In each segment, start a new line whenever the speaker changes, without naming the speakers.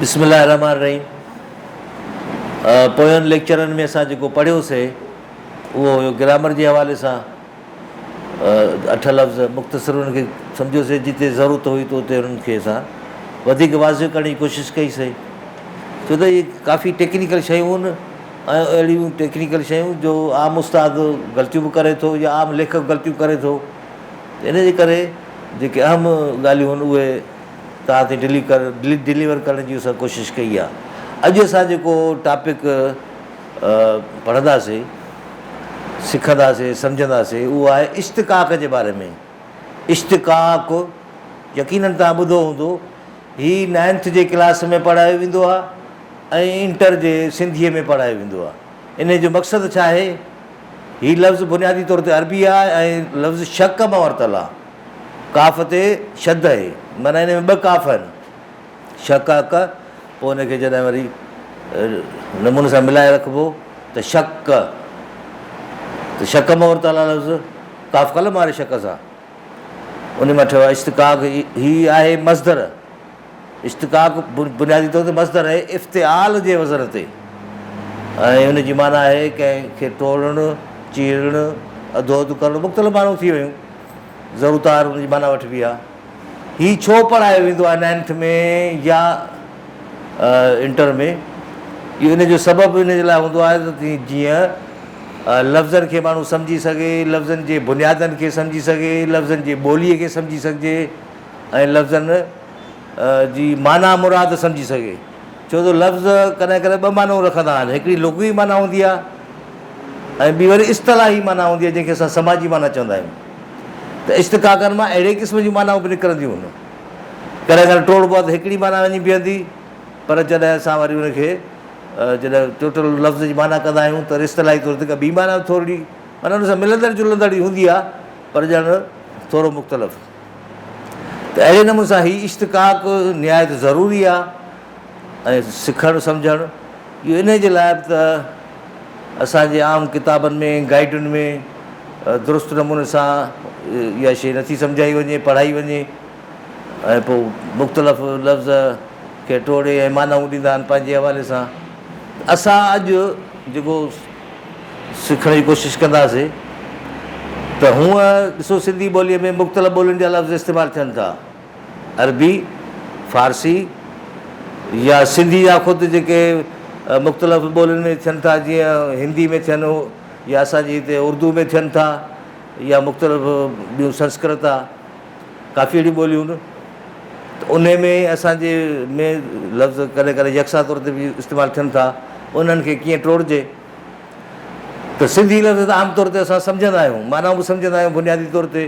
بسم الله الرحمن الرحيم پوين ليڪچرن ۾ اسان جيڪو پڙهيوسي اهو هيو گرامر جي حوالي سان اٺ لفظ مختصر انهن کي سمجهيوسي، جتي ضرورت هئي ته اتي انهن کي اسان وڌيڪ واضح ڪرڻ جي ڪوشش ڪئي سهي، ڇو ته اهي ڪافي ٽيڪنيڪل شيون هن ۽ اهڙيون ٽيڪنيڪل شيون جو عام استاد غلطيون به ڪري ٿو يا عام ليکڪ غلطيون ڪري ٿو ته ان جي ڪري جيڪي اهم ڳالهيون هن اهي توهان تي ڊلي ڪر ڊلي ڊليور ڪرڻ جي اسان ڪوشش ڪئي آهي اڄ اسان جيڪو ٽاپڪ پڙهنداسي، سکنداسي، سمجهنداسي اهو آهي اشتقاق جي باري ۾، اشتقاق يقينن توهان ٻڌو هوندو هي نائنٿ جي ڪلاس ۾ پڙهايو ويندو آهي ۽ انٽر جي سنڌيء ۾ پڙهايو ويندو آهي انهي جو مقصد ڇا آهي؟ هي لفظ بنيادي طور تي عربي آهي ۽ لفظ شق مان ورتل آهي ڪاف تي شد اهي معنيٰ انهي ۾ ٻه ڪاف آهن شڪ ڪ، پوء ان کي جڏهن وري نموني سان ملائي رکبو ته شڪ ڪ، ته شڪ مور تالا لفظ قاف قلم واري شڪ سان انهي مان ٺهيو آهي. اشتقاق هي آهي مصدر. اشتقاق بنيادي طور تي مصدر آهي افتعال جي وزن تي ۽ ان جي معنيٰ آهي ڪنهن کي ٽوڙڻ، چيرڻ، اڌو اڌ ڪرڻ مختلف معنيون ٿي ويون. زرو تار ان جي معنيٰ وٺبي آهي. هي ڇو پڙهايو ويندو آهي نائنٿ ۾ يا انٽر ۾ اهو ان جو سبب ان جي لاء هوندو آهي ته جيئن لفظن کي ماڻهو سمجهي سگهي، لفظن جي بنيادن کي سمجهي سگهي، لفظن جي ٻوليء کي سمجهي سگهجي ۽ لفظن جي معنيٰ مراد سمجهي سگهي. ڇو ته لفظ ڪڏهن ڪڏهن ٻه معنيون رکندا آهن، هڪڙي لغوي معنيٰ هوندي آهي ۽ ٻي وري اصطلاحي معنيٰ هوندي آهي جنهن کي اسان سماجي معنيٰ چوندا آهيون. ته اشتقاقن مان اهڙي قسم جون معنائون به نڪرنديون هن ڪڏهن ڪڏهن ٽوڙبو آهي ته هڪڙي معنيٰ وڃي بيهندي پر جڏهن اسان وري ان کي جڏهن ٽوٽل لفظ جي معنيٰ ڪندا آهيون ته اصطلاحي طور تي ڪا ٻي معنيٰ ٿورڙي معنيٰ ان سان ملندڙ جلندڙ ئي هوندي آهي پر ڄڻ ٿورو مختلف ته اهڙي نموني سان هي اشتقاق نهايت ضروري آهي ۽ سکڻ سمجهڻ اهو انهيء جي لاء به ته اسان جي عام ڪتابن ۾ گائيڊن ۾ درست نموني سان اها شيء نٿي سمجهائي وڃي پڙهائي وڃي ۽ پوء مختلف لفظ کي ٽوڙي ۽ معنائون ڏيندا آهن پنهنجي حوالي سان ته اسان اڄ جيڪو سکڻ جي ڪوشش ڪنداسي ته هونء ڏسو سنڌي ٻوليء ۾ مختلف ٻولين جا لفظ استعمال ٿين ٿا عربي، فارسي يا سنڌي يا خود جيڪي مختلف ٻولين ۾ ٿين ٿا جيئن هندي ۾ ٿين يا اسان جي هتي اردو ۾ ٿين ٿا يا مختلف ٻيون سنسڪرت آ ڪافي اهڙيون ٻوليون ان ته ان ۾ اسان جي ۾ لفظ ڪڏهن ڪڏهن يڪسان طور تي به استعمال ٿين ٿا انهن کي ڪيئن ٽوڙجي ته سنڌي لفظ عام طور تي اسان سمجهندا آهيون معنائون به سمجهندا آهيون بنيادي طور تي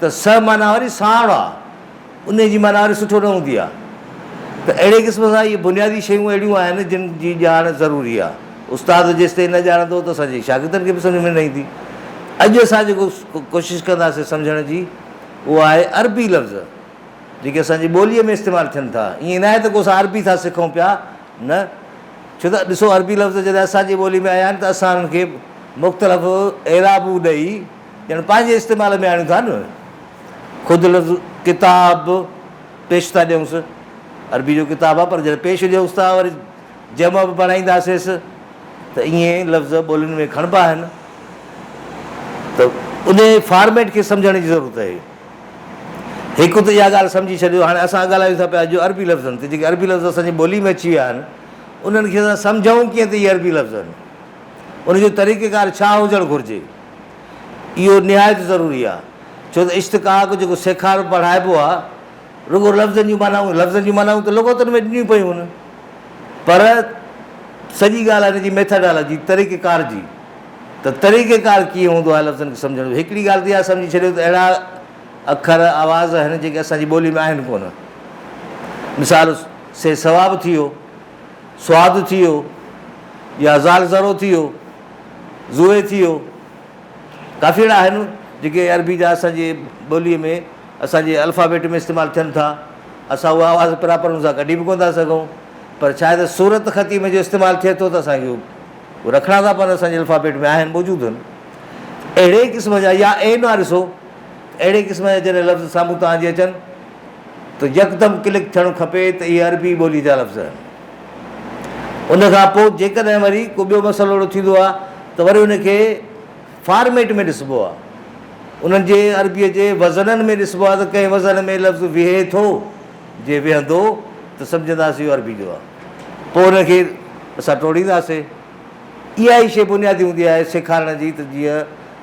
ته سهه معنيٰ وري ساڻ آ، انهيء جي معنيٰ وري سٺو نه هوندي آ. ته اهڙي قسم سان اهي بنيادي شيون اهڙيون آهن، جن جي ڄاڻ ضروري آ. استاد جيستائين نه ڄاڻندو ته اسان جي شاگردن کي به سمجهه ۾ نه ايندي. اڄ اسان جيڪو ڪوشش ڪنداسين سمجهڻ جي، اهو آهي عربي لفظ، جيڪي اسان جي ٻوليء ۾ استعمال ٿين ٿا. ائين ناهي ته ڪو اسان عربي ٿا سکون پيا، نه. ڇو ته ڏسو عربي لفظ جڏهن اسان جي ٻوليء ۾ آيا آهن ته اسان انهن کي مختلف اعرابون ڏئي، ڄڻ پنهنجي استعمال ۾ آڻيون ٿا نه خود لفظ ڪتاب به پيش ٿا ڏيونس عربي جو ڪتاب آهي پر جڏهن پيش ڏيونس ٿا وري جمع به بڻائينداسيس ته ائين لفظ ٻولين ۾ کڻبا آهن ته ان فارميٽ کي سمجهڻ جي ضرورت آهي هڪ ته اها ڳالهه سمجهي ڇڏيو هاڻي اسان ڳالهايون ٿا پيا جو عربي لفظن تي جيڪي عربي لفظ اسان جي ٻولي ۾ اچي ويا آهن انهن کي اسان سمجهون ڪيئن ته اهي عربي لفظ آهن ان جو طريقيڪار ڇا هجڻ گهرجي اهو نهايت ضروري آهي، ڇو ته اشتقاق جيڪو سيکارو پڙهائبو آهي، رڳو لفظن جون معنائون، لفظن جون معنائون ته لغتن ۾ ڏنيون پيون هونن، پر سڄي ڳالهه آهي ان جي ميٿاڊالاجي، طريقه ڪار جي، ته طريقه ڪار ڪيئن هوندو آهي لفظن کي سمجهڻ جو. هڪڙي ڳالهه ته اها سمجهي ڇڏيو ته اهڙا اکر، آواز آهن، جيڪي اسان جي ٻوليء ۾ آهن ڪونه. مثال، سي ثواب ٿي ويو، سواد ٿي ويو يا زال زرو ٿي ويو. زوئي ٿيو. ڪافي اهڙا آهن جيڪي عربي جا اسان جي ٻوليء ۾ اسان جي الفابيٽ ۾ استعمال ٿين ٿا. اسان اهو آواز پراپر ان سان ڪڍي به ڪونه ٿا سگهون پر ڇا آهي ته صورت خطيء ۾ جو استعمال ٿئي ٿو ته اسان کي اهو رکڻا ٿا پون اسان جي الفابيٽ ۾ آهن موجود هن اهڙي قسم جا يا عين واري سو اهڙي قسم جا جڏهن لفظ سامهون توهان جي اچن ته يڪدم ڪلڪ ٿيڻ کپي ته اهي عربي ٻولي جا لفظ آهن. ان کان پوء جيڪڏهن وري ڪو ٻيو مسئلو اهڙو ٿيندو آهي ته وري ان کي فارميٽ ۾ ڏسبو آهي. انهن جي عربيء جي وزنن ۾ ڏسبو آهي ته ڪنهن وزن ۾ لفظ ويهي ٿو، جي ويهندو ته سمجهنداسين اهو عربي جو آهي. پوء ان کي اسان ٽوڙينداسين. اها ئي شيء بنيادي هوندي آهي سيکارڻ جي ته جيئن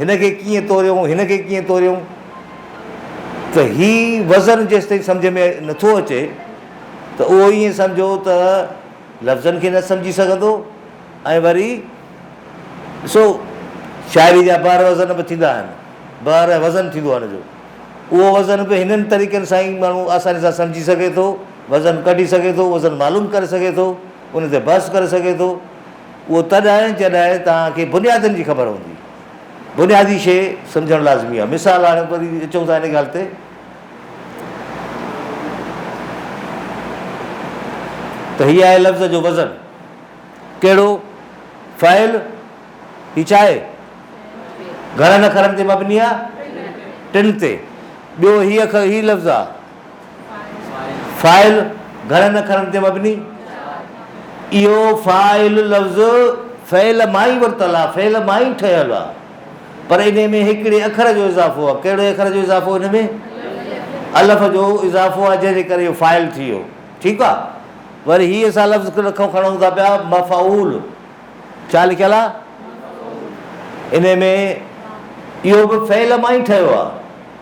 هن کي ڪيئن توريون، هن کي ڪيئن توريون ته هي وزن جيستائين سمجهه ۾ نٿو اچي ته اهو ائين سمجهو ته لفظن کي نه سمجهي سگهندو ۽ وري ڏسو شاعري جا بحر وزن به ٿيندا آهن، بحر وزن ٿيندو آهي هن جو، اهو وزن به هنن طريقن سان ئي ماڻهو آساني سان سمجهي سگهي ٿو، وزن ڪڍي سگهي ٿو، وزن معلوم ڪري سگهي ٿو، ان تي بحث ڪري سگهي ٿو. اهو تڏهن جڏهن توهان کي بنيادن جي خبر هوندي. بنيادي شيء سمجهڻ لازمي آهي. مثال هاڻي وري اچون ٿا ان ڳالهه تي ته هي آهي لفظ جو وزن. ڪهڙو؟ فعل. هي ڇا آهي؟ گهڻن اکرن تي مبني آهي. ٽن تي. ٻيو هي اکر هي لفظ آهي. فاعل گهڻن اکرن تي مبني. اهو فاعل لفظ فعل مان ئي ورتل آ، فعل مان ئي ٺهيل آ، پر انهي ۾ هڪڙي اکر جو اضافو آ، ڪهڙي اکر جو اضافو هن ۾؟ الف جو اضافو آ، جنهن جي ڪري اهو فاعل ٿي ويو، ٺيڪ آ. وري هي اسان لفظ ڪٿو کڻون ٿا پيا مفعول، ڇا لکيل آ؟ انهي ۾ اهو به فعل مان ئي ٺهيو آ.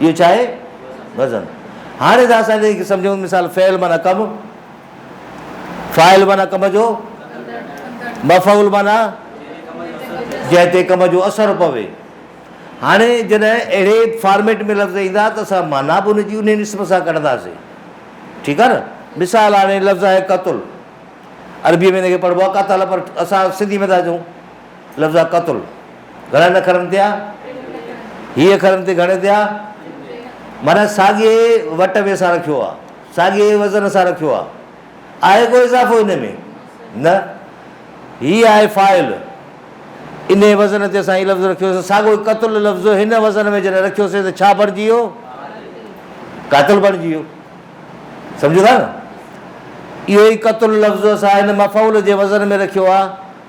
اهو ڇا آهي؟ وزن. هاڻي ذرا اسان انهيء کي سمجهون. مثال، فعل معنيٰ ڪم، فاعل معنيٰ ڪم جو، مفعول معنيٰ جنهن تي ڪم جو اثر پوي. هاڻي جڏهن اهڙي فارميٽ ۾ لفظ ايندا ته اسان معنيٰ به ان جي انهيء اسم سان ڪڍنداسين. ٺيڪ آهي نه؟ مثال هاڻي لفظ آهي قتل. عربيء ۾ ان کي پڙهبو آهي قتل پر اسان سنڌيء ۾ ٿا چئون لفظ آ قتل گهڻن اکرن تي آ هي اکرن تي گهڻي تي آ معنی ساڳي وٽ ۾ سان رکيو آ ساڳي وزن سان رکيو آ آهي ڪو اضافو ان ۾ نه هي آهي فائل ان وزن تي اسان هي لفظ رکيوسي ساڳو هي قتل لفظ هن وزن ۾ جڏهن رکيوسي ته ڇا بڻجي ويو قاتل بڻجي ويو سمجھو ٿا نه اهو ئي قتل لفظ اسان هن مفعول جي وزن ۾ رکيو آ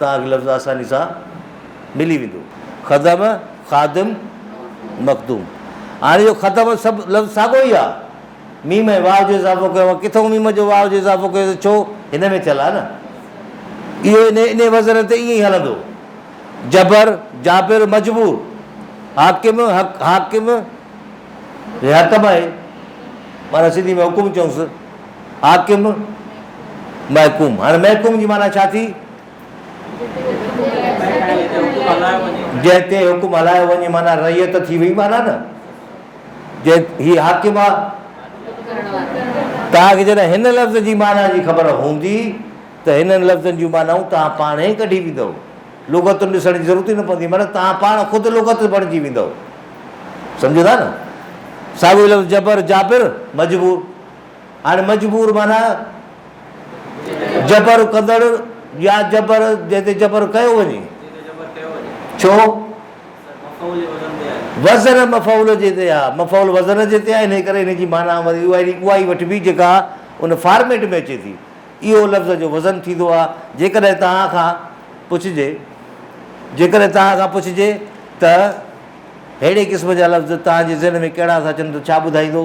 داغ لفظ آساني سان ملي ويندو. خدم، خادم، مخدوم. هاڻي اهو خدم سڀ لفظ ساڳيو ئي آ. ميم ۽ واء جو اضافو ڪيو آ. ڪٿئون ميم جو واء جو اضافو ڪيو ته ڇو؟ هن ۾ ٿيل آ نه. اهو ان انهيء وزن تي ائين ئي هلندو. جبر، جابر، مجبور. حاڪم، حق، حاڪم. هي حڪم آهي. معنيٰ سنڌي ۾ حڪم چئونس. حاڪم، محڪوم، هاڻي محڪوم جي معنيٰ ڇا ٿي؟ جنهن تي حڪم هلايو وڃي معنيٰ رعيت ٿي وئي معنيٰ نه جنهن هي حاڪم آ. توهان کي جڏهن هن لفظ جي معنيٰ جي خبر هوندي ته هنن لفظن جون معنائون توهان پاڻ ئي ڪڍي ويندؤ. لغتون ڏسڻ جي ضرورت ئي نه پوندي معنيٰ توهان پاڻ خود لغت بڻجي ويندؤ. سمجهو ٿا نه؟ ساڳيو لفظ جبر، جابر، مجبور. هاڻي مجبور معنيٰ جبر ڪندڙ يا جبر جنهن تي جبر ڪيو وڃي. ڇو؟ وزن مفعول جي تي آهي، مفعول وزن جي تي آهي، انهيء ڪري ان جي معنيٰ وري اها ئي وٺبي جيڪا ان فارميٽ ۾ اچي ٿي. اهو لفظ جو وزن ٿيندو آهي. جيڪڏهن توهان کان پڇجي، جيڪڏهن توهان کان پڇجي ته اهڙي قسم جا لفظ توهان جي ذهن ۾ ڪهڙا ٿا اچن ته ڇا ٻڌائيندو؟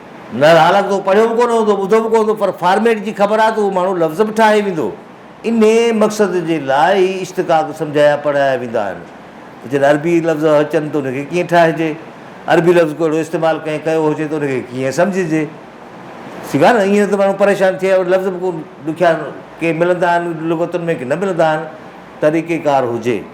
نه حالانڪ تو پڙهيو به ڪونه هوندو ٻڌو به ڪونه هوندو پر فارميٽ جي خبر آهي ته اهو ماڻهو لفظ به ٺاهي ويندو انهي مقصد جي لاء هي اشتقاق سمجهايا پڙهايا ويندا آهن ته جڏهن عربي لفظ اچن ته ان کي ڪيئن ٺاهجي عربي لفظ ڪو اهڙو استعمال ڪنهن ڪيو هجي ته ان کي ڪيئن سمجهجي ٺيڪ آهي نه ائين نه ته ماڻهو پريشان ٿئي اهڙا لفظ به ڏکيا ڪي ملندا آهن لغتن ۾ ڪي نه ملندا آهن طريقيڪار هجي.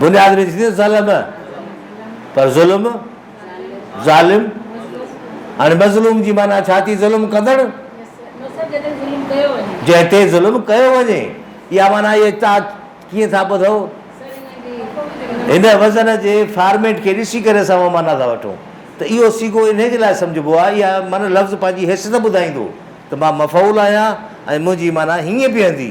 بنياد نٿي ٿئي ظلم پر ظلم ظالم هاڻي مظلوم جي معنيٰ ڇا ٿي ظلم ڪندڙ جنهن تي ظلم ڪيو وڃي اها معنيٰ اهي تاء ڪيئن ٿا ٻڌو هن وزن جي فارميٽ کي ڏسي ڪري اسان اها معنيٰ ٿا وٺون ته اهو سيگو ان جي لاء سمجهبو آهي اها معنيٰ لفظ پنهنجي حيثيت ٻڌائيندو ته مان مفعول آهيان ۽ منهنجي معنيٰ هيئن بيهندي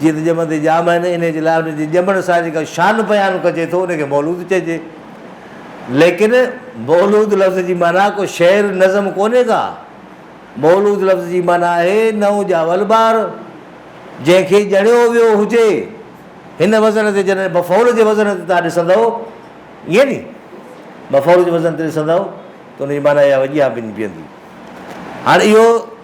جيئن ته ڄمندي ڄام آهن، انهيء جي لاء انهن جي ڄمڻ سان جيڪا شان بيان ڪجي ٿو، ان کي مولود چئجي. ليڪن مولود لفظ جي معنيٰ ڪو شعر، نظم ڪونهي ڪا. مولود لفظ جي معنيٰ آهي نئون ڄاول ٻار، جنهن کي ڄڻيو ويو هجي. هن وزن تي جڏهن مفعول جي وزن تي توهان ڏسندؤ، ائين ني، مفعول جي وزن تي ڏسندؤ ته ان جي معنيٰ اها وڄيان بنجي بيهندي. هاڻ اهو.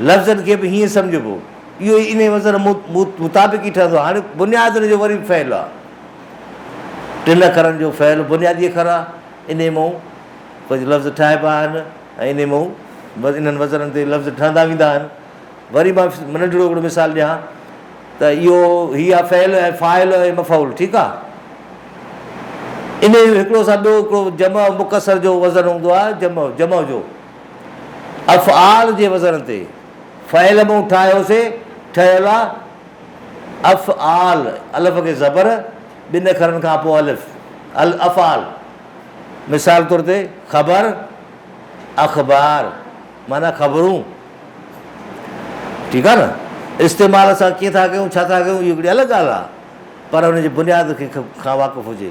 لفظن کي به هيئن سمجهبو. اهو ئي انهيء وزن مطابق ئي ٺهندو. هاڻي بنياد ان جو وري به فعل آ. ٽن اکرن جو فعل بنيادي اکر آ. انهيء مان ڪجهه لفظ ٺاهبا آهن ۽ انهيء مان بس انهن وزنن تي لفظ ٺهندا ويندا آهن. وري مان ننڍڙو هڪڙو مثال ڏيان ته اهو هي آ فعل ۽ فاعل ۽ مفعول ٺيڪ آ. انهيء جو هڪڙو سان ٻيو هڪڙو جمع مڪسر جو وزن هوندو آ جمع جمع جو. افعال جي وزن تي فعل مون ٺاهيو سي ٺهيل آ افعال الف کي زبر ٻن اکرن کان پوء الف الافعال مثال طور تي خبر اخبار معنيٰ خبرون ٺيڪ آ نه استعمال اسان ڪيئن ٿا ڪيون ڇا ٿا ڪيون اهو هڪڙي الڳ ڳالهه آ پر ان جي بنياد کي کان واقف هجي.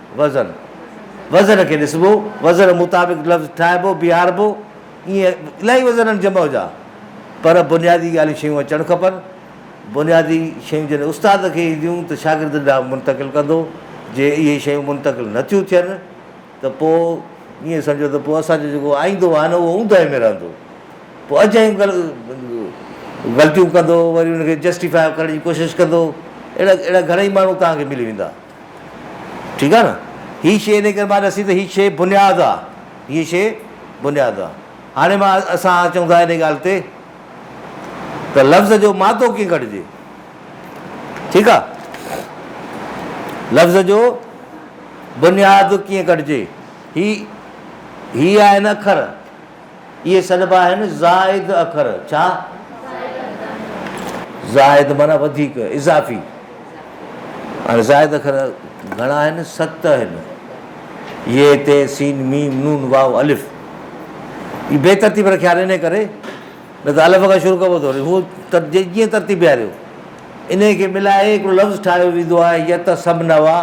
وزن، وزن کي ڏسبو، وزن مطابق لفظ ٺاهبو، بيهاربو، ائين الائي وزن آهن جمع جا، پر بنيادي ڳالهيون شيون اچڻ کپن، بنيادي شيون جڏهن استاد کي اينديون ته شاگردن ڏانهن منتقل ڪندو، جي اهي شيون منتقل نه ٿيون ٿين ته پوء ائين سمجهو ته پوء اسان جو جيڪو آئيندو آهي نه اهو اونداهي ۾ رهندو، پوء اڄ جون غلطيون ڪندو، وري ان کي جسٽيفاء ڪرڻ جي ڪوشش ڪندو، اهڙا اهڙا گهڻا ئي ماڻهو توهان کي ملي ويندا. ٺيڪ آ نه هي شي انهي ڪري مان ڏسي ته هي شي بنياد آ هي شي بنياد آ هاڻي مان اسان اچون ٿا انهي ڳالهه تي ته لفظ جو مادو ڪيئن ڪڍجي ٺيڪ آ لفظ جو بنياد ڪيئن ڪڍجي هي هي آهن اکر اهي سڏبا آهن زائد اکر. ڇا؟ زائد معنيٰ وڌيڪ، اضافي. هاڻي زائد اکر گهڻا آهن؟ ست آهن. ي، ت، س، م، ن، واو، الف. هي بي ترتيب رکيا آهن انهيء ڪري، نه ته الف کان شروع ڪبو ٿو هو ته جيئن ترتيب بيهاريو. انهيء کي ملائي هڪڙو لفظ ٺاهيو ويندو آهي يتسمنوا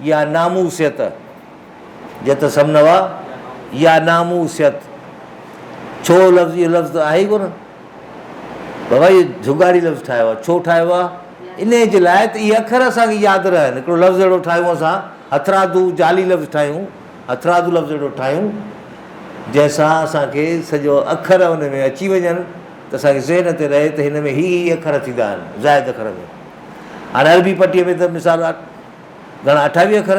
يا ناموسيت. جت سم نوا، يا ناموسيت، ڇو لفظ اهو لفظ ته آهي ئي ڪونه، بابا اهو جهڳاڙي لفظ ٺاهيو آهي، ڇو ٺاهيو آهي، انهيء جي لاء ته اهي اکر اسان کي ياد رهن، هڪڙو لفظ اهڙو ٺاهيون اسان هٿرادو جعلي لفظ ٺاهيون، هٿرادو لفظ اهڙو ٺاهيون، جنهن سان اسان کي سڄو اکر ان ۾ اچي وڃن ته اسان کي ذهن تي رهي ته هن ۾ هي هي اکر ٿيندا آهن، زائد اکر ۾، هاڻي عربي پٽيء ۾ ته مثال گهڻا اٺاويهه اکر.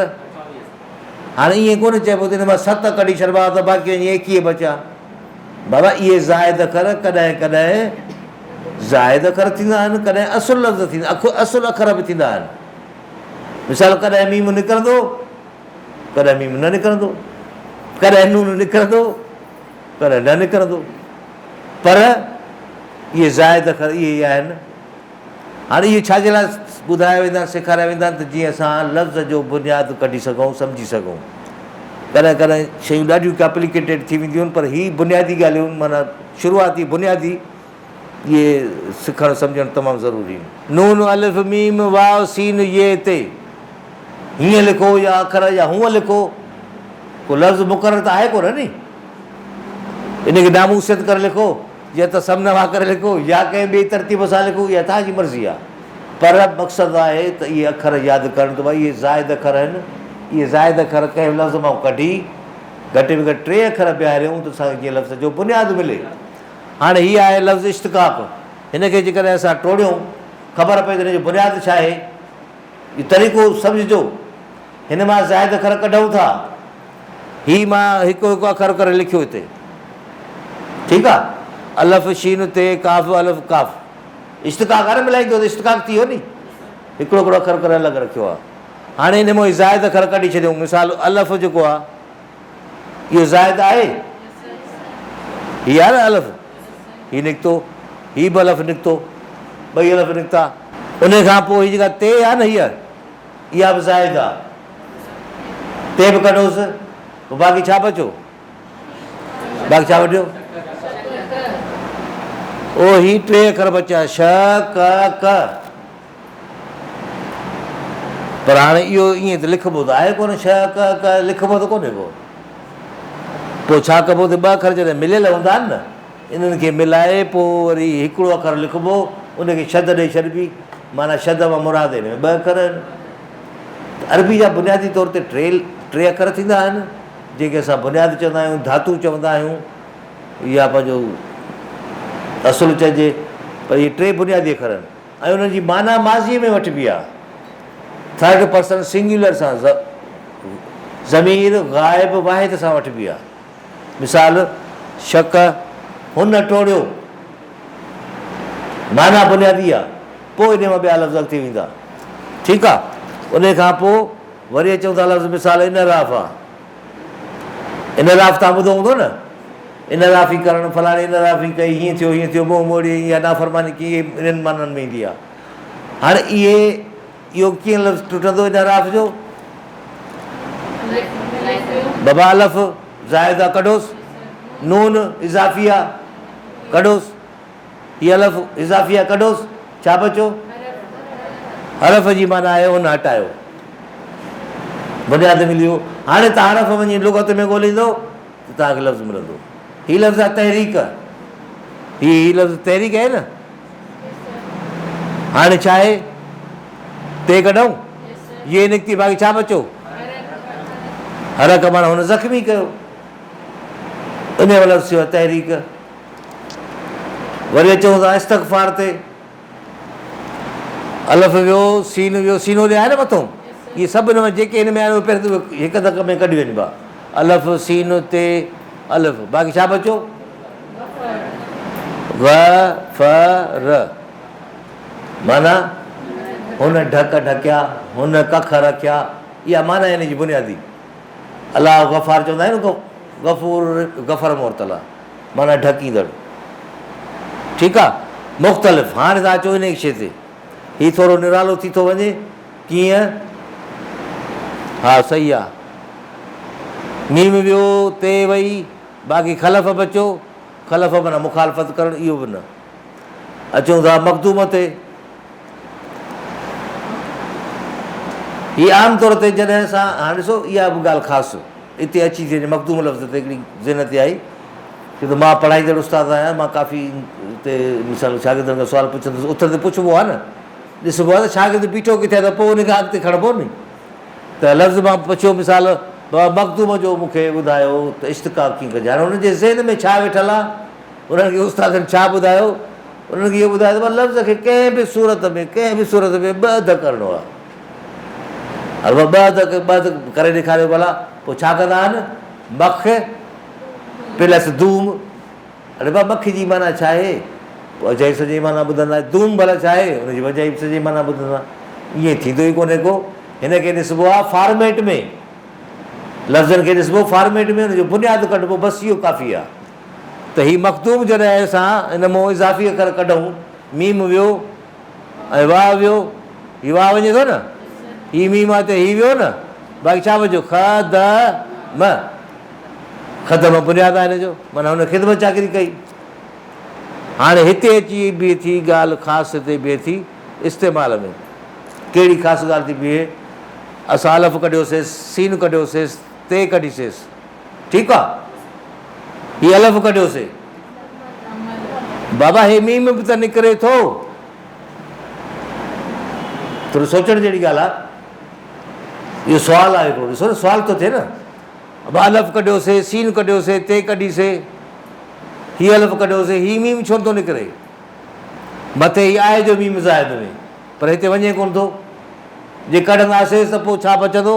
هاڻي ائين ڪونه چئبو ته ان مان ست ڪڍي ڇڏبا ها ته باقي اڃا ايڪيهه بچيا. بابا اهي زائد اکر ڪڏهن ڪڏهن زائد اکر ٿيندا آهن ڪڏهن اصل لفظ ٿيندا اصل اکر به ٿيندا آهن. مثال ڪڏهن ميم نڪرندو ڪڏهن ميم نه نڪرندو ڪڏهن نون نڪرندو ڪڏهن نه نڪرندو پر اهي زائد اکر اهي آهن هاڻي اهي ڇا جي لاء ٻڌايا ويندا آهن، سيکاريا ويندا آهن ته جيئن اسان لفظ جو بنياد ڪڍي سگهون، سمجهي سگهون. ڪڏهن ڪڏهن شيون ڏاڍيون ڪاپليڪيٽيڊ ٿي وينديون آهن پر هي بنيادي ڳالهيون معنيٰ شروعاتي بنيادي اهي سکڻ سمجهڻ تمام ضروري آهن. نون الف ميم واو سين يئه تي هيئن لکو يا اکر يا هونئن لکو ڪو لفظ مقرر ته آهي ڪونه ني ان کي ناموسيت ڪري لکو. يا ته سم نوا ڪري لکو يا ڪنهن ٻئي ترتيب سان لکو، اها توهان جي مرضي آهي. پر مقصد آهي ته اهي اکر ياد ڪرڻ ته ڀائي اهي زائد اکر آهن. اهي زائد اکر ڪنهن به لفظ مان ڪڍي، گهٽ ۾ گهٽ ٽي اکر بيهاريون ته اسان کي ڪنهن لفظ جو بنياد ملي. هاڻي هي آهي لفظ اشتقاق. هن کي جيڪڏهن اسان ٽوڙيون، خبر پئي ته هن جو بنياد ڇا آهي. اهو طريقو سمجهجو. هن مان زائد اکر ڪڍون ٿا. هي مان هڪ هڪ اکر ڪري لکيو هتي. ٺيڪ آ. الف شين تي قاف الف قاف اشتقاق آ نه ملائيندو ته اشتقاق ٿي ويو ني. هڪڙو هڪڙو اکر ڪري الڳ رکيو آ. هاڻي هن مان زائد اکر ڪڍي ڇڏيون مثال الف جيڪو آ اهو زائد آهي؟ هي آ نه الف هي نڪتو هي به الف نڪتو ٻئي الف نڪتا. انهي کان پوء هي جيڪا تي آ نه هيء. اها به زاهد آ تي به ڪڍوس پوء باقي ڇا بچو باقي ڇا وڍيو او هي ٽي اکر بچيا ش ڪ ڪ پر هاڻي اهو ائين ته لکبو ته آهي ڪونه ش ڪ ڪ لکبو ته ڪونهي ڪو پوء ڇا ڪبو ته ٻه اکر جڏهن مليل هوندا آهن نه انهن کي ملائي پوء وري هڪڙو اکر لکبو، ان کي شد ڏئي ڇڏبي، معنيٰ شد مان مراد ان ۾ ٻه اکر آهن ته عربي جا بنيادي طور تي ٽي ٽي اکر ٿيندا آهن، جن کي اسان بنياد چوندا آهيون، ڌاتو چوندا آهيون يا پنهنجو اصل چئجي، پر اهي ٽي بنيادي اکر آهن ۽ انهن جي معنيٰ ماضيء ۾ وٺبي آهي، ٿرڊ پرسن سنگيولر سان، ضمير غائب واحد سان وٺبي آهي. مثال، شڪ، هن ٽوڙيو. معنيٰ بنيادي آ، پوء انهيء مان ٻيا لفظ اڳتي ويندا. ٺيڪ آ. انهيء کان پوء وري اچون ٿا لفظ مثال انحراف آ. انحراف توهان ٻڌو هوندو نه؟ انحرافي ڪرڻ، فلاڻي انحرافي ڪئي، هيئن ٿيو، هيئن ٿيو، منهن موڙيئي يا نافرماني ڪيئي، انهن معنيٰ ۾ ايندي آ. هاڻي اهي. اهو ڪيئن لفظ ٽٽندو ان اعراف جو؟ بابا الف زائد آ ڪڍوس نون اضافي آ ڪڍوس هي الف اضافي آ ڪڍوس ڇا بچو؟ حرف جي معنيٰ آهي ان هٽايو بنياد ملي ويو هاڻي ته حرف وڃي لغت ۾ ڳوليندو اتان هڪ لفظ ملندو. هي لفظ آهي تحريڪ. هي هي لفظ تحريڪ آهي نه. هاڻي ڇا آهي؟ تي ڪڍئون؟ يي نڪتي باقي ڇا بچو؟ حرڪ معنيٰ هن زخمي ڪيو. ان جو لفظ ٿيو تحريڪ. وري اچون ٿا استغفار تي. الف ويو، سين ويو، سينو جي آهي نه مٿو، اهي سڀ هن ۾ جيڪي هن ۾ آهن اهي پهرين هڪ ڌڪ ۾ ڪڍي وڃبا. الف، سين، تي، الف. باقي ڇا بچيو؟ و، ف، ر. معنيٰ، هن ڍڪ ڍڪيا، هن ڪک رکيا، اها معنيٰ آهي هن جي بنيادي. الله غفار چوندا آهيون ته غفور غفر مرتلا معنيٰ ڍڪيندڙ ٺيڪ آ مختلف هاڻي تان اچو انهي شي تي هي ٿورو نرالو ٿي ٿو وڃي ڪيئن ها صحيح آ ميم ويو تي وئي باقي خلف به اچو خلف معنيٰ مخالفت ڪرڻ اهو به نه اچون ٿا مخدوم تي هي عام طور تي جڏهن اسان هاڻ ڏسو اها به ڳالهه خاص اتي اچي ٿي وڃي مخدوم لفظ تي هڪڙي ذهن تي آئي ڇو ته مان پڙهائيندڙ استاد آهيان مان ڪافي تي مثال شاگردن کان سوال پڇندس اٿ تي پڇبو آهي نه ڏسبو آهي ته شاگرد بيٺو ڪٿي ته پوء ان کي اڳتي کڻبو ني ته لفظ مان پڇيو مثال بابا مخدوم جو مون کي ٻڌايو ته اشتقاق ڪيئن ڪجي هاڻي هن جي ذهن ۾ ڇا ويٺل آهي انهن کي استادن ڇا ٻڌايو؟ انهن کي اهو ٻڌايو ته لفظ کي ڪنهن به صورت ۾ ڪنهن به صورت ۾ ٻه اڌ ڪرڻو آهي. هل ٻه اڌ ٻه اڌ ڪري ڏيکاريو ڀلا پوء ڇا ڪندا آهن مک پلس دوم اڙي با مک جي معنی ڇا آهي پوء اجائي سڄي معنی ٻڌندا دوم ڀلا ڇا آهي ان جي وجائي سڄي معنی ٻڌندا ائين ٿيندو ئي ڪونهي ڪو هن کي ڏسبو آهي فارميٽ ۾ لفظن کي ڏسبو فارميٽ ۾ هن جو بنياد ڪڍبو بس اهو ڪافي آهي ته هي مخدوم جڏهن اسان ان مون اضافي اکر ڪڍون، ميم ويو ۽ واء ويو، هي واء وڃي ٿو نه، هي ميم آهي ته هي ويو نه، باقي ڇا بچيو خ د م، خدمه بنياد آهي هن جو، معنيٰ هن خدمت چاڪري ڪئي. هاڻي هتي اچي بيهي ٿي ڳالهه خاص تي بيهي ٿي استعمال ۾، ڪهڙي خاص ڳالهه ٿي بيهي، اسان الف ڪڍيوسيس، سين ڪڍيوسيس، تي ڪڍيسيس. ٺيڪ آ هي الف ڪڍيو سي بابا هي ميم به ته نڪري ٿو ٿورو سوچڻ جهڙي ڳالهه آ اهو سوال آهي هڪڙو ڏسو نه سوال ٿو ٿئي نه اب الف ڪڍيو سي سين ڪڍيو سي تي ڪڍي سي هي الف ڪڍيو سي هي ميم ڇو نٿو نڪري مٿي هي آهي جو ميم زائد ۾ پر هتي وڃي ڪونه ٿو جي ڪڍنداسي ته پوء ڇا بچندو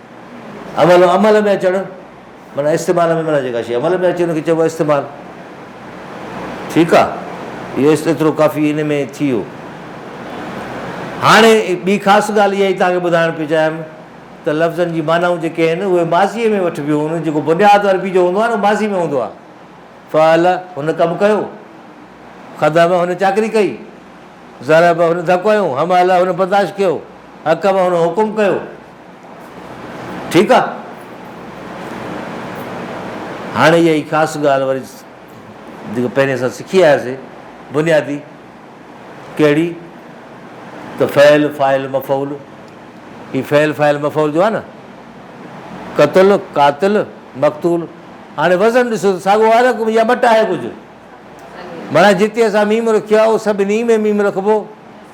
اولو عمل ۾ اچڻ معنيٰ استعمال ۾ معنيٰ جيڪا شيء عمل ۾ اچي ان کي چئبو آهي استعمال ٺيڪ آ اهو ايترو ڪافي ان ۾ ٿي ويو هاڻي ٻي خاص ڳالهه اها ئي توهان کي ٻڌائڻ پيو چاهيم ته لفظن جي معنائون جيڪي آهن اهي ماضيء ۾ وٺبيون ان جيڪو بنياد عربي جو هوندو آهي نه ماضي ۾ هوندو آهي فعل هن ڪم ڪيو خدم هن چاڪري ڪئي ضرب هن ڌڪ هنيو حمل هن برداشت ڪيو حڪم هن حڪم ڪيو ٺيڪ آ هاڻي اها ئي خاص ڳالهه وري جيڪو پهرين اسان سکي آياسي بنيادي ڪهڙي ته فعل فائل مفعول هي فعل فائل مفعول جو آ نه قتل قاتل مقتول هاڻي وزن ڏسو ته ساڳو آ نه ڪجهه يا مٽ آهي ڪجهه مانا جتي اسان ميم رکيو آ اهو سڀني ۾ ميم رکبو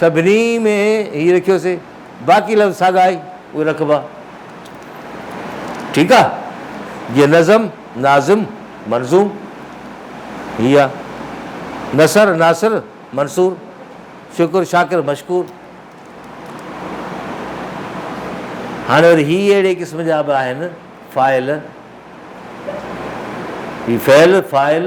سڀني ۾ هي رکيوسي باقي لفظ ساڳا آهي اهي رکبا ٺيڪ آ جيئن نظم ناظم منظوم هي آ نثر ناثر منثور شڪر شاڪر مشڪور هاڻي وري هي اهڙي قسم جا به آهن فاعل هي فعل فاعل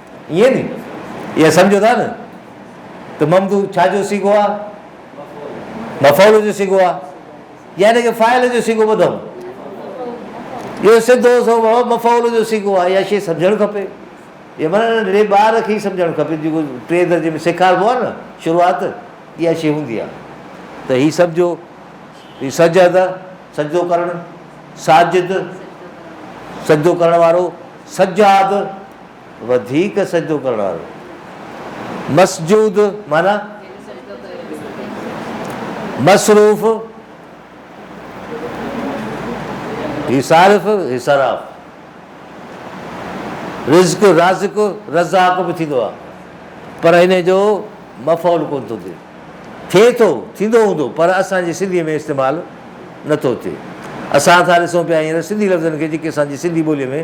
ائين ني؟ ائين سمجهو ٿا نه ته ممدوح ڇا جو صيغو آ؟ مفعول جو صيغو آ يا ان کي فاعل جو صيغو ٻڌئون؟ اهو سڌو سوڀو مفعول جو صيغو آ. اها شيء سمجهڻ کپي. اها معنيٰ ننڍڙي ٻار کي ئي سمجهڻ کپي جيڪو ٽئين درجي ۾ سيکاربو آ نه شروعات اها شيء هوندي آ ته هي سمجهو هي سجد سجدو ڪرڻ، ساجد سجدو ڪرڻ وارو، سجاد وڌيڪ سجدو ڪرڻ وارو. مسجود معنيٰ مصروف، هي صارف، هي صراف. رزق، رازق، رزاق به ٿيندو آهي پر ان جو مفعول ڪونه ٿو ٿئي. ٿئي ٿو، ٿيندو هوندو پر اسان جي سنڌيء ۾ استعمال نه ٿو ٿئي. اسان ٿا ڏسون پيا هينئر سنڌي لفظن کي جيڪي اسان جي سنڌي ٻوليء ۾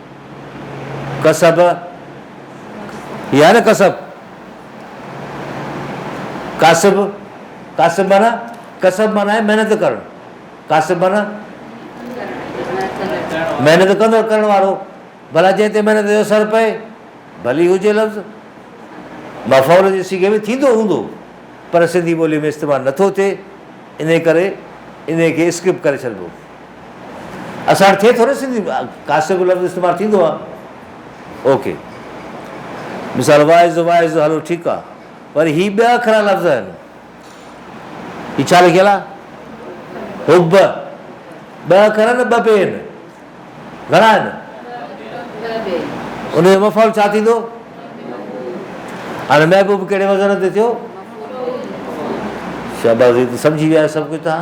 ڪسب، هي آهي نه ڪسب، ڪاسب، ڪاسب معنيٰ، ڪسب معنيٰ آهي محنت ڪرڻ، ڪاسب معنيٰ محنت ڪندڙ، ڪرڻ وارو، ڀلا جنهن تي محنت جو اثر پئي، ڀلي هجي لفظ مفعول جي صيغي ۾ ٿيندو هوندو، پر سنڌي ٻوليء ۾ استعمال نٿو ٿئي، انهيء ڪري انهيء کي اسڪپ ڪري ڇڏبو. اسان وٽ ٿئي ٿو نه سنڌي ۾ ڪاسي به لفظ استعمال ٿيندو آ اوڪي مثال واعظ واعظ هلو ٺيڪ آ پر هي ٻيا اکرا لفظ آهن هي ڇا لکيل آ حب ٻه اکر آهن ٻه پي آهن گهڻا آهن ان جو مفعول ڇا ٿيندو هاڻي محبوب ڪهڙي وزن تي ٿيو شاباز سمجھي ويا سڀ ڪجھ تان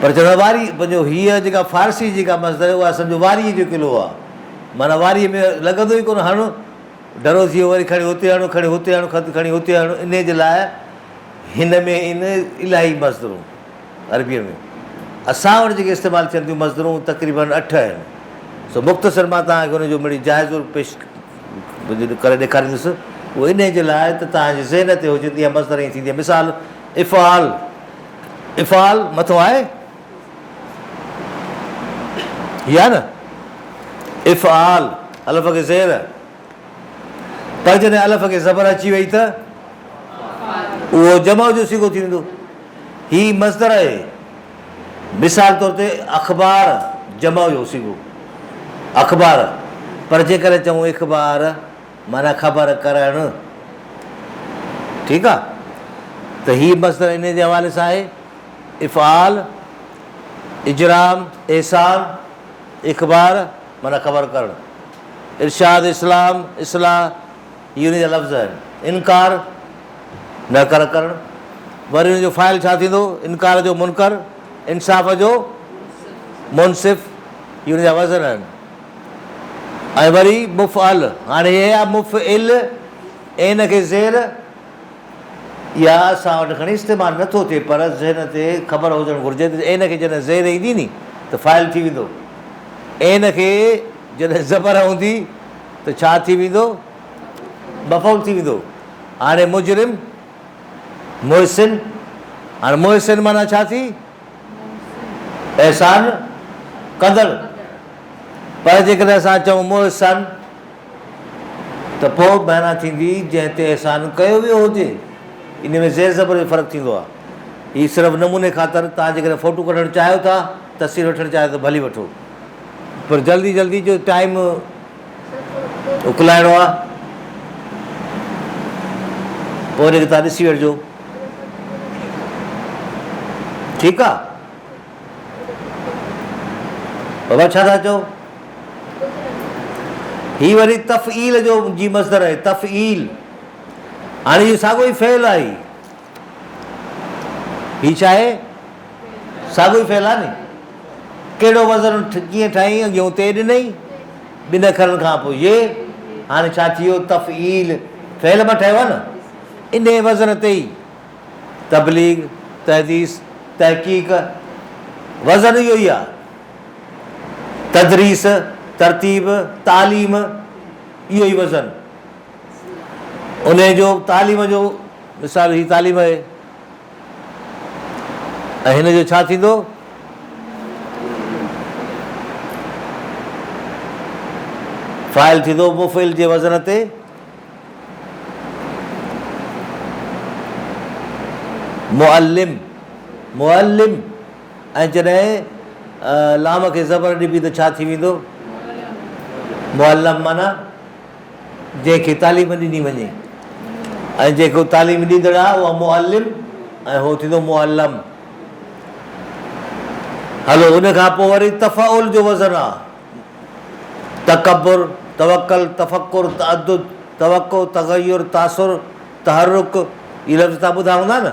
پر چوڻ واري جو هيء جيڪا فارسي جيڪا مصدر آهي اها سمجهو واريء جو قلعو آهي. معنيٰ واريء ۾ لڳندو ئي ڪونه هڻ ڍرو ٿي ويو وري کڻي هتي هڻ کڻي هتي هڻ خط کڻي هتي هڻ انهيء جي لاء هن ۾ ان الاهي مصدرون عربيء ۾ اسان وٽ جيڪي استعمال ٿين ٿيون مصدرون تقريبن اٺ آهن سو مختصر مان توهان کي ان جو مڙئي جائزو پيش ڪري ڏيکاريندس اهو انهيء جي لاء ته توهان جي ذهن تي هجن ته اها مصدر ائين ٿيندي آهي مثال افعال افعال مٿو آهي هي آهي نه افعال الف کي زير پر جڏهن الف کي زبر اچي وئي ته اهو جمع جو سيگو ٿي ويندو هي مصدر آهي مثال طور تي اخبار جمع جو سيگو اخبار پر جيڪڏهن چون اخبار معنيٰ خبر ڪرڻ. ٺيڪ آ ته هي مصدر انهي جي حوالي سان آهي، افعال، اجرام، احسان، اخبار معنيٰ خبر ڪرڻ، ارشاد، اسلام، اصلاح هي انهي جا لفظ آهن، انڪار، نه ڪر ڪرڻ، وري ان جو فاعل ڇا ٿيندو، انڪار جو منڪر، انصاف جو منصف هي انهي جا وزن آهن. ۽ وري مفعل، هاڻي هي آ مفعل، عين کي زير يا اسان وٽ کڻي استعمال نه ٿو ٿئي پر ذهن تي خبر هجڻ گهرجي ته عين کي جڏهن زير ايندي ني ته فاعل ٿي ويندو، عين کي جڏهن زبر اوندي ته ڇا ٿي ويندو؟ مفعول ٿي ويندو. هاڻي مجرم، محسن، هاڻي محسن معنيٰ ڇا ٿي؟ احسان ڪندڙ، پر جيڪڏهن اسان چئون محسن ته پوء معنيٰ ٿيندي جنهن تي احسان ڪيو ويو هجي. انهي ۾ زير زبر جو فرق ٿيندو آهي. هي صرف نموني خاطر، توهان جيڪڏهن فوٽو ڪڍڻ چاهيو ٿا، تصوير وٺڻ چاهيو ته ڀلي وٺو. پر جلدي جلدي جو ٽائيم. اڪلائڻو آ پوء ان کي تان ڏسي وٺجو ٺيڪ آ بابا ڇا ٿا چئو هي وري تفعيل جو جي مصدر آهي تفعيل هاڻي اهو ساڳو ئي فعل آهي هي ڇا آهي؟ ساڳيو ئي فعل آهي ني. ڪهڙو وزن ڪيئن ٺاهين اڳي هون تي ڏنئي ٻن اکرن کان پوء ي هاڻي ڇا ٿي ويو تفعيل فعل مان ٺهيو آهي نه انهي وزن تي ئي تبليغ تحديث تحقيق وزن اهو ئي آهي تدريس ترتيب تعليم اهو ئي وزن انهيء جو تعليم جو مثال هي تعليم آهي ۽ هن جو ڇا ٿيندو؟ فاعل ٿيندو مفعل جي وزن تي معلم معلم ۽ جڏهن لام کي زبر ڏبي ته ڇا ٿي ويندو؟ معلم معنيٰ جنهن کي تعليم ڏني وڃي ۽ جيڪو تعليم ڏيندڙ آهي اهو معلم ۽ هو ٿيندو معلم. هلو ان کان پوء وري تفعل جو وزن آهي، تڪبر، توڪل، تفڪر، تعدد، توقع، تغير، تاثر، تحرڪ، اهي لفظ تان ٻڌا هوندا نه؟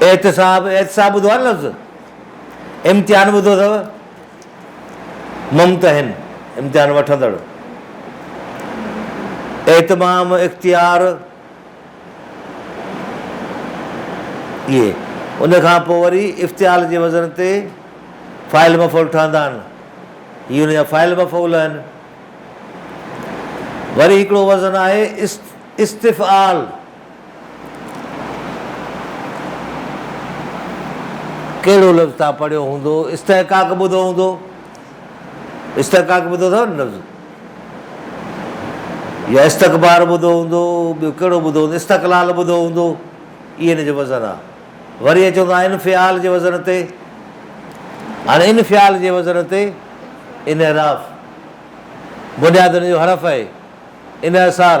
احتساب، احتساب ٻڌو آهي نه لفظ؟ امتحان ٻڌو اٿو؟ ممتحن، امتحان وٺندڙ. اهتمام، اختيار، اهي. ان کان پوء وري افتعال جي وزن تي فاعل مفعول ٺهندا آهن. هي ان جا فاعل مفعول آهن. وري هڪڙو وزن آهي است، استفعال. ڪهڙو لفظ تان پڙهيو هوندو استحقاق ٻڌو هوندو استحقاق ٻڌو اٿو نه لفظ يا استقبار ٻڌو هوندو ٻيو ڪهڙو ٻڌو هوندو استقلال ٻڌو هوندو اي هن جو وزن آ وري اچو ٿا انفعال جي وزن تي هاڻي انفعال جي وزن تي انحراف بنياد ان جو حرف آهي انحصار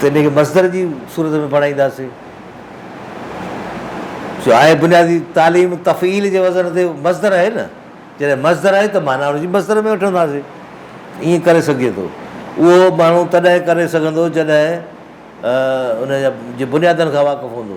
ته ان کي مصدر جي صورت ۾ بڻائينداسين جو آء بنيادي تعليم تفعيل جي وزن تي مصدر آهي نه جڏهن مصدر آهي ته معنيٰ ان جي مصدر ۾ وٺنداسين ائين ڪري سگهجي ٿو اهو ماڻهو تڏهن ڪري سگهندو جڏهن ان جي بنيادن کان واقف هوندو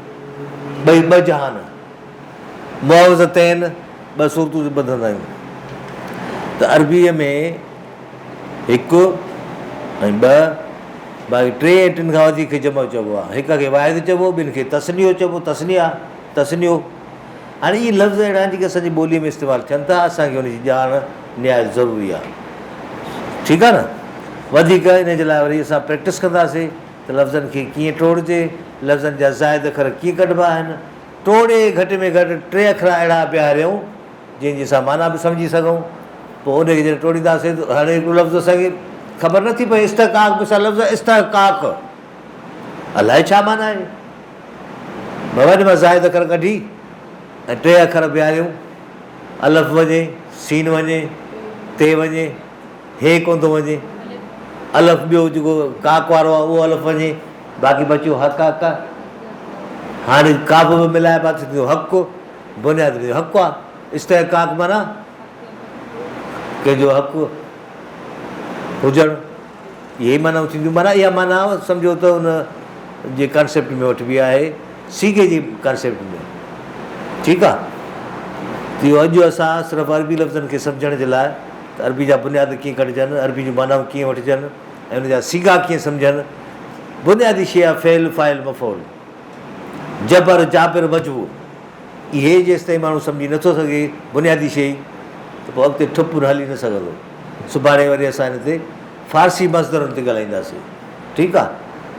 ٻئي ٻه جهان، معوذتين، ٻه سورتون جي ٻڌندا آهيون ته عربيء ۾ هڪ ۽ ٻه باقي ٽي ۽ ٽن کان وڌيڪ کي جمع چئبو آهي. هڪ کي واحد چئبو، ٻن کي تثنيو چئبو، تثنيا، تثنيو. هاڻي اهي لفظ اهڙا آهن جيڪي اسان جي ٻوليء ۾ استعمال ٿين ٿا، اسان کي ان جي ڄاڻ نهايت ضروري آهي. ٺيڪ آهي نه؟ وڌيڪ ان جي لاء وري اسان پريڪٽس ڪنداسين. ته لفظن کي ڪيئن ٽوڙجي، لفظن جا زائد اکر ڪيئن ڪڍبا آهن، ٽوڙي گهٽ ۾ گهٽ ٽي اکر اهڙا بيهاريون، جن جي اسان معنيٰ به سمجهي سگهون. پوء انهيء کي جڏهن ٽوڙينداسين ته هاڻي هڪڙو لفظ اسان کي خبر نه ٿي پوي، استحقاق به سان لفظ استحقاق الائي ڇا معنيٰ آهي؟ وڃ مان زائد اکر ڪڍي ۽ ٽي اکر بيهاريون، الف وڃي، سين وڃي، تي وڃي. هي ڪونه ٿو وڃي. الف ٻيو جيڪو ڪاڪ وارو آهي اهو الف وڃي. باقي بچيو هڪ ا ڪ. هاڻي ڪاف به ملائي باقي ٿيندو هڪ. بنياد ۾ هڪ آ. استحقاق معنيٰ ڪنهن جو حق هجڻ. اهي ئي معنائون ٿينديون. معنيٰ اها معنيٰ سمجهو ته ان جي ڪانسيپٽ ۾ وٺبي آهي. صيغي جي ڪانسيپٽ ۾. ٺيڪ آ. اهو اڄ اسان صرف عربي لفظن کي سمجهڻ جي لاء ته عربي جا بنياد ڪيئن ڪڍجن، عربي جون معنائون ڪيئن وٺجن ۽ ان جا صيغا ڪيئن سمجهن. بنيادي شيء آهي فعل، فاعل، مفعول، جبر، جابر، مجبور. اهي جيستائين ماڻهو سمجهي نٿو سگهي بنيادي شيء ته پوء اڳتي ٺپ هلي نه سگهندو. سڀاڻي وري اسان هن تي فارسي مصدرن تي ڳالهائينداسين. ٺيڪ آهي.